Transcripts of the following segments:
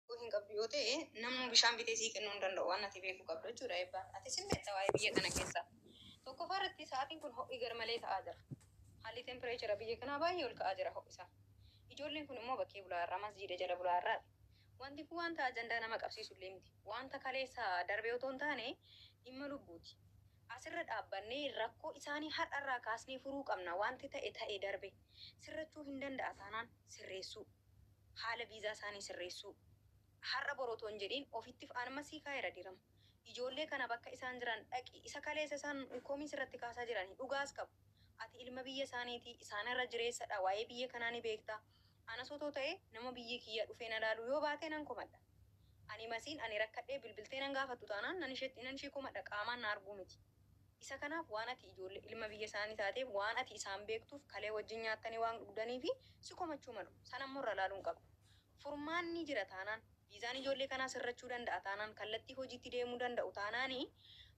Yoo hin qabdu yoo ta'e namni bishaan bitee sii kennuu hin danda'u waan ati beekuu qabdu jechuudha eebbaan. Ati sin beekta waa'ee biyya kana keessa. Tokkoffaa irratti sa'aatiin kun ho'i garmalee ta'aa jira. Haalli tempireechara biyya kanaa baay'ee ol ka'aa jira ho'isaa. Ijoolleen kun immoo bakkee bulaa irraa masjiida jala bulaa irraa. Wanti kun wanta ajandaa nama qabsiisu illee miti. Wanta kaleessa darbee otoo hin taane dhimma lubbuuti. Asirra dhaabbannee rakkoo isaanii har'a irraa kaasnee furuu qabna. Wanti ta'e ta'e darbe. Sirrachuu hin danda'a taanaan sirreessuu. haala viizaa isaanii sirreessuu. Har'a bor otoo hin jedhiin ofittif anma sii kaa'eera dirama. Ijoollee kana bakka isaan jiran dhaqi isa kaleessa isaan komii sirratti kaasaa jirani dhugaas qabu. Ati ilma biyya isaaniiti isaan irra jireessadha waa'ee biyya kanaa ni beekta. Anas otoo ta'e nama biyyi kiyya dhufee na laaluu yoo baate nan komadha. Ani masiin ani rakkadhee bilbiltee nan gaafattu taanaan nan isheetti nan ishee komadha qaamaan na arguu miti. Isa kanaaf waan ati ijoollee ilma biyya isaanii taateef waan ati isaan beektuuf kalee wajjin nyaattanii waan dhugdaniifi si komachuu malu. Sana immoo irra ilaaluu hin qabdu. Furmaanni jira taanaan, viizaan ijoollee kanaa sirrachuu danda'a taanaan, kallattii hojiitti deemuu danda'u taanaan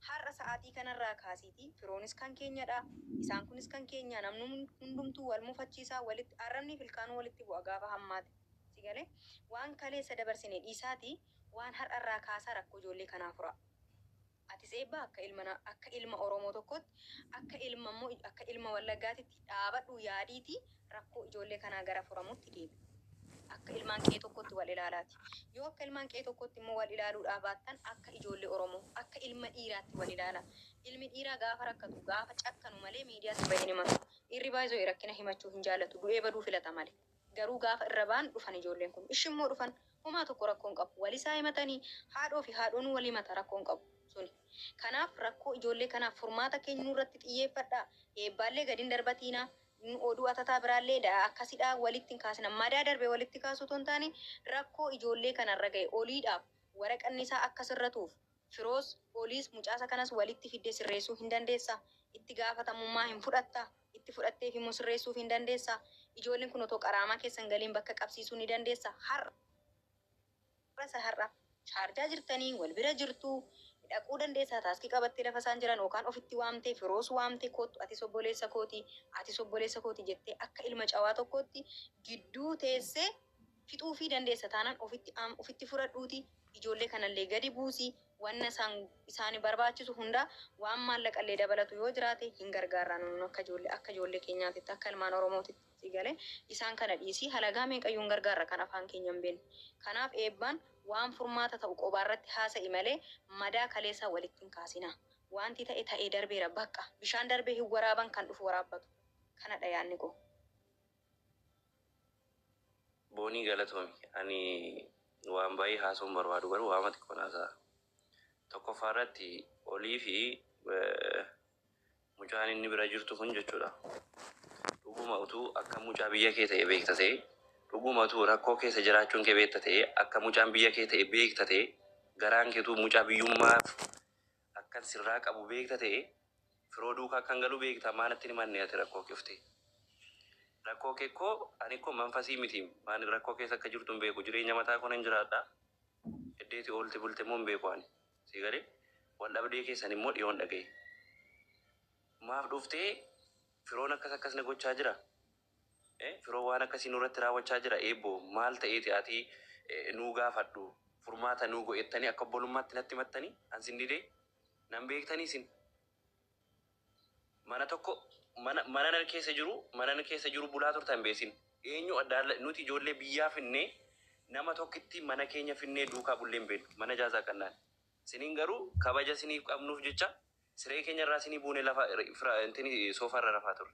har'a sa'aatii kanarraa kaasiitii firoonis kan keenyadha, isaan kunis kan keenya namni hundumtuu wal mufachiisa, walitti arrabnii fi ilkaanuu walitti bu'a gaafa hammaate. Si galee? Waan kaleessa dabarsine dhiisaatii waan har'arraa kaasaa rakkoo ijoollee kanaa furaa. Atis Eebbaa akka ilma na akka ilma Oromoo tokkootti akka ilma immoo akka ilma Wallaggaatitti dhaabadhuu yaadiitii rakkoo ijoollee kanaa gara furamutti deebi. Akka ilmaan qe'ee tokkootti wal ilaalaati. Yoo akka ilmaan qe'ee tokkootti immoo wal ilaaluudhaa baattan akka ijoollee Oromoo akka ilma dhiiraatti wal ilaala. Ilmi dhiiraa gaafa rakkatu gaafa cakkanu malee miidiyaatti bahee hin himatu. Dhiirri by the way rakkina himachuu hin jaallatu du'ee baduu filata malee. Garuu gaafa irra ba'an dhufan ijoolleen kun. Ishi immoo dhufan. Homaa tokko rakkoo hin qabu. Walisaa himatani. Haadhoo fi haadhoonuu wal himata rakkoo hin qabu. Suni. Kanaaf rakkoo ijoollee kanaaf furmaata kennuu irratti xiyyeeffadhaa. Eebbaallee gadi hin darbatiinaa. Oduu atataa biraallee da akkasidhaa walitti hin kaasina. Madaa darbe walitti kaasuu otoo hin taane rakkoo ijoollee kana irra gahe oliidhaaf waraqanni isaa akka sirratuuf Firoos, Oliis, mucaasa kanas walitti fiddee sirreessuu hin dandeessaa? Itti gaafatamummaa hin fudhattaa? itti fudhatteefi immoo sirreessuufi hin dandeessa. Ijoolleen kun otoo qaraamaa keessa hin galiin bakka qabsiisuu ni dandeessa. Har'a isa har'a Shaarjaa jirtanii wal bira jirtu, dhaquu dandeessa taaskii qabattee lafa isaan jiran yookaan ofitti waamtee, Firoos waamtee koottu atis obboleessa kooti, atis obboleessa kooti jettee akka ilma cawaa tokkootti gidduu teessee, Fixuufii dandeessa taanaan ofitti aam ofitti fudhadhuutii ijoollee kanallee gadi buusi. Wanna isaan isaani barbaachisu hundaa waan maallaqallee dabalatu yoo jiraate hin gargaarraa nun nun akka ijoollee akka ijoollee keenyaatitti akka ilmaan Oromootitti sii galee isaan kana dhiisii halagaa meeqayyuu hin gargaarra kan afaan keenya hin beekne. Kanaaf Eebbaan waan furmaata ta'u qobaarratti haasa'i malee madaa kaleessaa walitti hin kaasinaa. Waanti ta'e ta'ee darbeera baqqa. Bishaan darbee hin waraaban kan dhufu waraabbatu. Kanadha yaadni koo. Boonii galatoomi ani waan baay'ee haasa'uun barbaadu garuu waama xiqqoon haasa'a. Tokkoffaa irratti olii fi mucaan inni bira jirtu kun jechuudha. Dhuguma utuu akka mucaa biyya kee ta'e beekta ta'e dhuguma utuu rakkoo keessa jiraachuun kee beekta ta'e akka mucaan biyya kee ta'e beekta ta'e garaan keetuu mucaa biyyummaaf akkan sirraa qabu beekta ta'e firoo duuka akkan galu beekta maa natti hin himanne ati rakkoo kee ufte rakkoo kee koo ani koo manfasii miti maan rakkoo keessa akka jirtu hin beeku jireenya mataa koo nan jiraadha eddeeti oolti bulte immoo hin beeku ani sii galee wal dhabdee keessan immoo dhiyoon dhaga'e maaf dhuftee firoon akkas akkas na gochaa jira Firoo waan akkasii nurratti raawwachaa jira Eebboo maal ta'eeti ati nuu gaafadhu furmaata nuu go'ettanii akka obbolummaatti natti himattanii an sin didee nan beektanii isin mana tokko mana mana nan keessa jiru mana nan keessa jiru bulaa turtan beesin eenyu addaalla nuti ijoollee biyyaa finnee nama tokkitti mana keenya finnee duukaa bullee hin beeknu mana jaazaa qannaan siniin garuu kabaja siniif qabnuuf jecha siree keenya irraa sinii buune lafa fira intini soofa irra rafaa turre.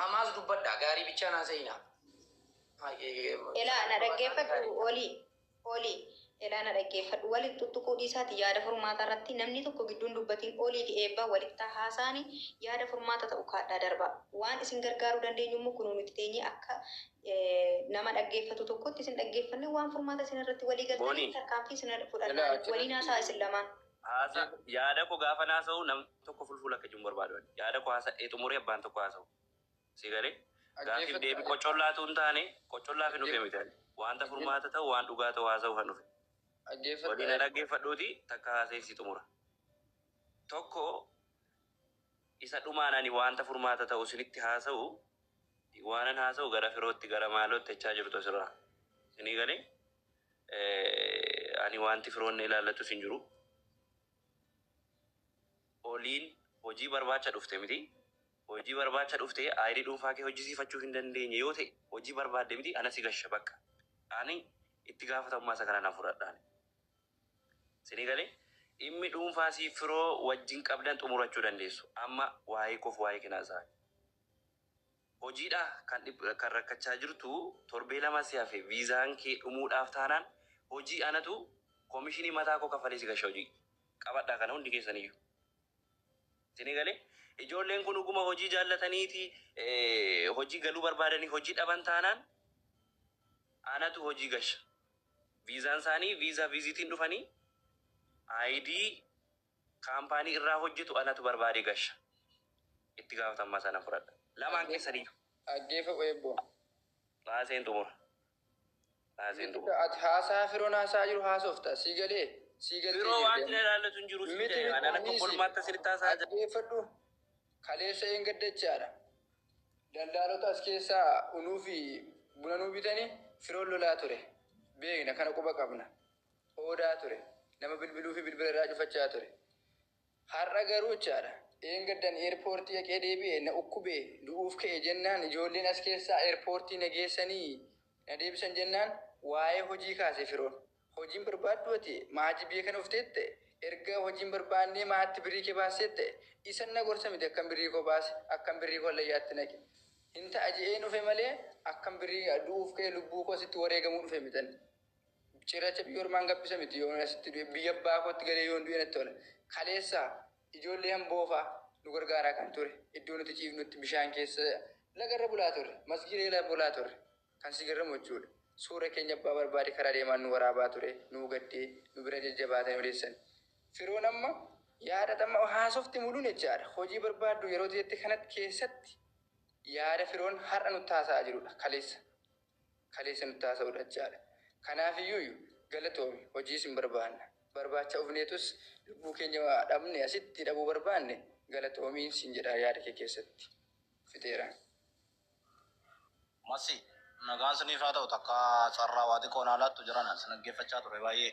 Hamaas dubbadhaa gaarii bichaan haasa'inaa. Elaa na dhaggeeffadhu olii olii elaa na dhaggeeffadhu walitti tuttuquu dhiisaati yaada furmaataa irratti namni tokko gidduun dubbatiin olii fi eebbaa walittaa haasaani yaada furmaata ta'u kaadhaa darbaa waan isin gargaaruu dandeenyu immoo kunuu nuti teenyee akka nama dhaggeeffatu tokkotti isin dhaggeeffanne waan furmaata isin irratti walii galtanii tarkaanfii isin fudhannaa waliin haasaa isin lamaan. Haasa yaada koo gaafa haasa'u nam tokko fulfuula akka jiru hin barbaadu. ani. Yaada koo haasa'ee xumuree abbaan tokko haasa'u. Si galee gaaffiif deebii qoccollaatu hin taane qoccollaaf hin dhufe miti. ani. Wanta furmaata ta'u waan dhugaa ta'u haasa'u kan dhufe. Waliin na dhaggeeffadhuuti takka haasa'ee si xumura. Tokko isa dhumaan ani wanta furmaata ta'u isinitti haasa'u waanan haasa'u gara firootti gara maalootti jechaa jirtu asirraa. Isinii galee Eh, ani wanti firoon na ilaallatus hin jiru. Oliin hojii barbaacha dhufte miti. Hojii barbaacha dhufte ayirii dhuunfaa kee hojjisiifachuu hin dandeenye yoo ta'e hojii barbaadde miti ana si gasha bakka. Ani itti gaafatamummaa isa kana nan fudhadha. ani. Sini galee dhimmi dhuunfaa siif firoo wajjin qabdan xumurachuu dandeessu. Amma waa'ee koof waa'ee kenaa isaa. Hojiidha kan kan rakkachaa jirtu torbee lama si hafe viizaan kee dhumuudhaaf taanaan hojii anatu komishinii mataa koo kafalee si gasha hojii qabadhaa kana hundi keessaniyyuu isinii galee ijoolleen kun dhuguma hojii jaallataniiti hojii galuu barbaadanii hojii dhaban taanaan anatu hojii gasha viizaan isaanii viizaa viiziitiin dhufanii ayidii Kaampaanii irraa hojjetu anatu barbaadee gasha. Itti gaafatamummaa isaa nan fudhadha. Lamaan keessaniyyuu. Dhaggeeffa Weebbo. Baaseen xumura. Baaseen Miti xumura. ka ati haasaa Firoon haasa'aa jiru haasofta. Sii galee? Sii galtee Firoo wanti jirti na amma. ilaallatu hin jiru siin Miti jedhe. miti Ani akka dhiisi. obbolummaatti asinitti haasa'aa jira. Dhaggeeffadhu. Kaleessa een gaddachaadha. Daldaalota as keessaa unuu fi buna nuu bitanii Firoon lolaa ture. Beekna kana quba qabna. qoodaa ture. Nama bilbiluu fi bilbila irraa cufachaa ture. Har'a garuu jechaadha. Dheengaddan eerpoortii dhaqee deebi'e na ukkube du'uuf ka'e jennaan ijoolleen as keessaa eerpoortii na geessanii na deebisan jennaan waa'ee hojii kaase firoon. Hojiin barbaaddu ati maatii biyya kana ufteette erga hojiin barbaannee maatti birrii kee baasseette isan na gorsa miti akkan birrii koo baase akkan birrii koo hallayyaatti naqe. Hin ta'a je'een dhufe malee akkan birrii du'uuf ka'e lubbuu koo sitti wareegamuu dhufe mitan. Cirracha biyya ormaan gabbisa miti yoon asitti du'e biyya abbaa kootti galee yoon du'e natti tola. Kaleessa ijoollee Amboofaa nu gargaaraa kan ture iddoo nuti ciifnutti bishaan keessa lagarra bulaa turre masgiida jala bulaa turre kan si garramu jechuudha. Suura keenya abbaa barbaade karaa deemaan nu waraabaa ture nuu gaddee nu bira jajjabaatanii odeessani. Firoon amma yaada amma haasofte muluun jechaadha hojii barbaaddu yeroo jette kanatti keessatti yaada Firoon har'a nutti haasa'aa jirudha kaleessa. kaleessa nutti haasa'uu dhadchaadha. Kanaafiyyuuyu galatoomi hojii sin barbaanna. Barbaacha ufneetus lubbuu keenya dhabne asitti dhabuu barbaanne galatoomi sin jedha yaada kee keessatti. Fixeera. Masii. Nagaan siniif haa ta'u takka carraa waa xiqqoo naa laattu jarana si dhaggeeffachaa ture baay'ee.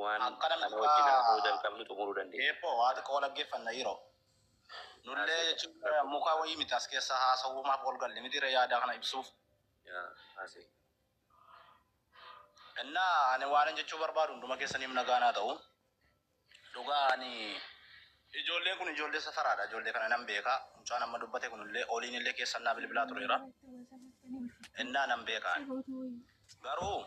waan Akkana kana dhugaa. wajjin haasa'uu jalqabnu xumuruu dandeenya. Eebboo waa xiqqoo dhaggeeffanna yeroo. Nullee Haasa'e. jechuun mukaa wayii miti as keessa haasawuumaaf ol galle miti yaada kana ibsuuf. Yaa, haasa'e. Innaa ani waanan jechuu barbaadu hunduma keessaniif nagaan haa ta'u. Dhugaa ani ijoolleen kun ijoollee safaraadha. Ijoollee kana nan beeka. Mucaan amma dubbate kunillee oliin illee keessan naa bilbilaa tureera. Innaa nan beeka. Garuu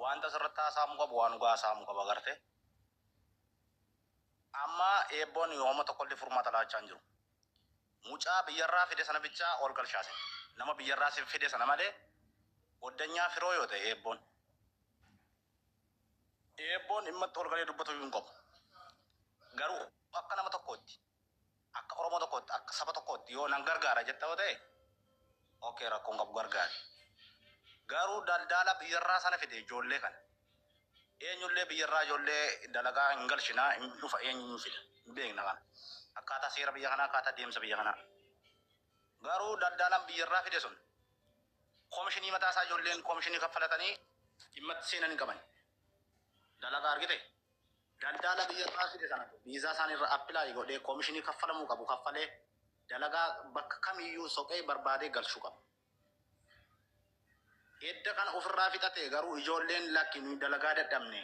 Waanti asirratti haasa'amuu qabu waan dhugaa haasa'amuu qaba garte. Amma eebboon hooma tokkollee furmaata laachaa hin jiru. Mucaa biyyarraa fide sana bichaa ol galchaa sin. Nama biyyarraa sin fide sana malee goddanyaa firoo yoo ta'e eebboon. Eebboon dhimmatti ol galee dubbatu hin qabu. Garuu akka nama tokkootti. Akka Oromoo tokkootti, akka saba tokkootti yoo nan gargaara jetta yoo ta'e, okay rakkoo hin qabu gargaari. Garuu daldaala biyyarraa sana fide ijoollee kana. Eenyullee biyyarraa ijoollee dalagaa hin galchina, hin dhufa eenyu hin fida. Hin beekna kana. Akkaataa seera biyya kanaa, akkaataa deemsa biyya kanaa. Garuu daldaalaan biyyarraa fide sun komishinii mataa isaa ijoolleen komishinii kaffalatanii dhimma itti seenan hin qaban. Dalagaa argite? Daldaala biyyarraa fide sana viizaa isaaniirra apply godhee komishinii kaffalamuu qabu kaffalee dalagaa bakka kamiyyuu soqee barbaadee galchuu qaba. Edda kana ofirraa fixate garuu ijoolleen lakki nuyi dalagaa dadhabne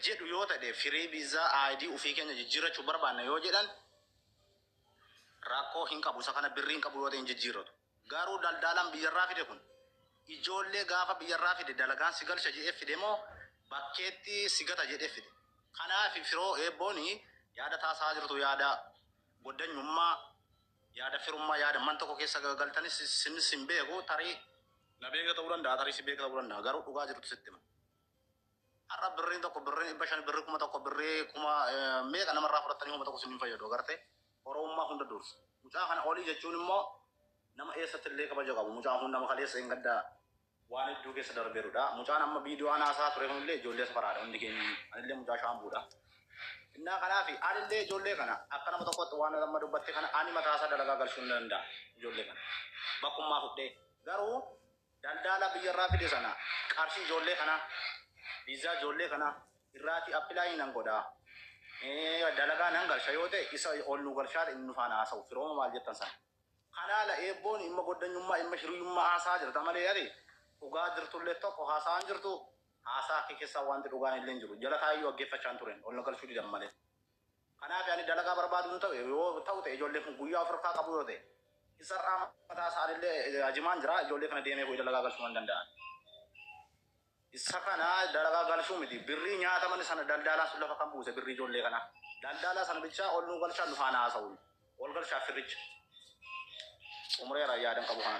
jedhu yoo ta'e firii viizaa ID ofii keenya jijjiirrachuu barbaanna yoo jedhan rakkoo hin qabu isa kana birrii hin qabu yoo ta'e hin jijjiirratu. Garuu daldaalaan biyyarraa fide kun ijoollee gaafa biyyarraa fide dalagaan si galcha jedhee fide moo bakkeetti si gata jedhee fide? Kanaaf firoo eebboon yaada taasaa jirtu yaada goddanyummaa yaada firummaa yaada man tokko keessa galtanis sin sin beeku tarii na beeka ta'uu danda'a tarii si beeka ta'uu danda'a garuu dhugaa jirtu sitti hima. Har'a birriin tokko birrii dhibba shan birrii kuma tokko birrii kuma meeqa namarraa fudhattanii homa tokko isin fayyadu agartee Oromummaa hunda dursa. Mucaa kana olii jechuun immoo nama eessatti illee kabaja qabu. Mucaan kun nama kaleessa hin gaddaa waan hedduu keessa darbeerudha. Mucaan amma viidiyoo anaasaa ture kunillee ijoollee safaraadha hundi keenya. Anillee mucaa shaambuudha. Innaa kanaaf anillee ijoollee kana akka nama tokkotti waan amma dubbatte kana ani mataasaa dalagaa galchuu ni danda'a ijoollee kana. Bakkummaa fudhee garuu Daldaalaa biyya irraa fide sana qarshii ijoollee kanaa, viizaa ijoollee kanaa irraati apply nan godha, dalagaa nan galcha yoo ta'e isa ol nu galchaa inni nu faana haasa'u firooma maal jettan sana. Kanaa la eebboon imma goddanyummaa imma hiriyummaa haasa'aa jirta malee ati dhugaa jirtullee tokko haasa'aa hin jirtu haasaa kee keessaa wanti dhugaan illee hin jiru jala taa'eeyyuu dhaggeeffachaa hin turen ol na galchuu didan malee. Kanaafi ani dalagaa barbaadu hin ta'u yoo ta'u ta'e ijoolleen kun guyyaa of irkaa qabu yoo ta'e isarraa mataa isaanillee ajimaan jira ijoollee kana deemee bu'ee dalagaa galchuu man danda'an. Isa kana dalagaa galchuu miti birrii nyaataman sana daldaalaa sun lafa kan buuse birrii ijoollee kana daldaalaa sana bichaa ol nuu galchaa nufaan haasa'u ol galchaa firricha xumureera yaadan qabu kana.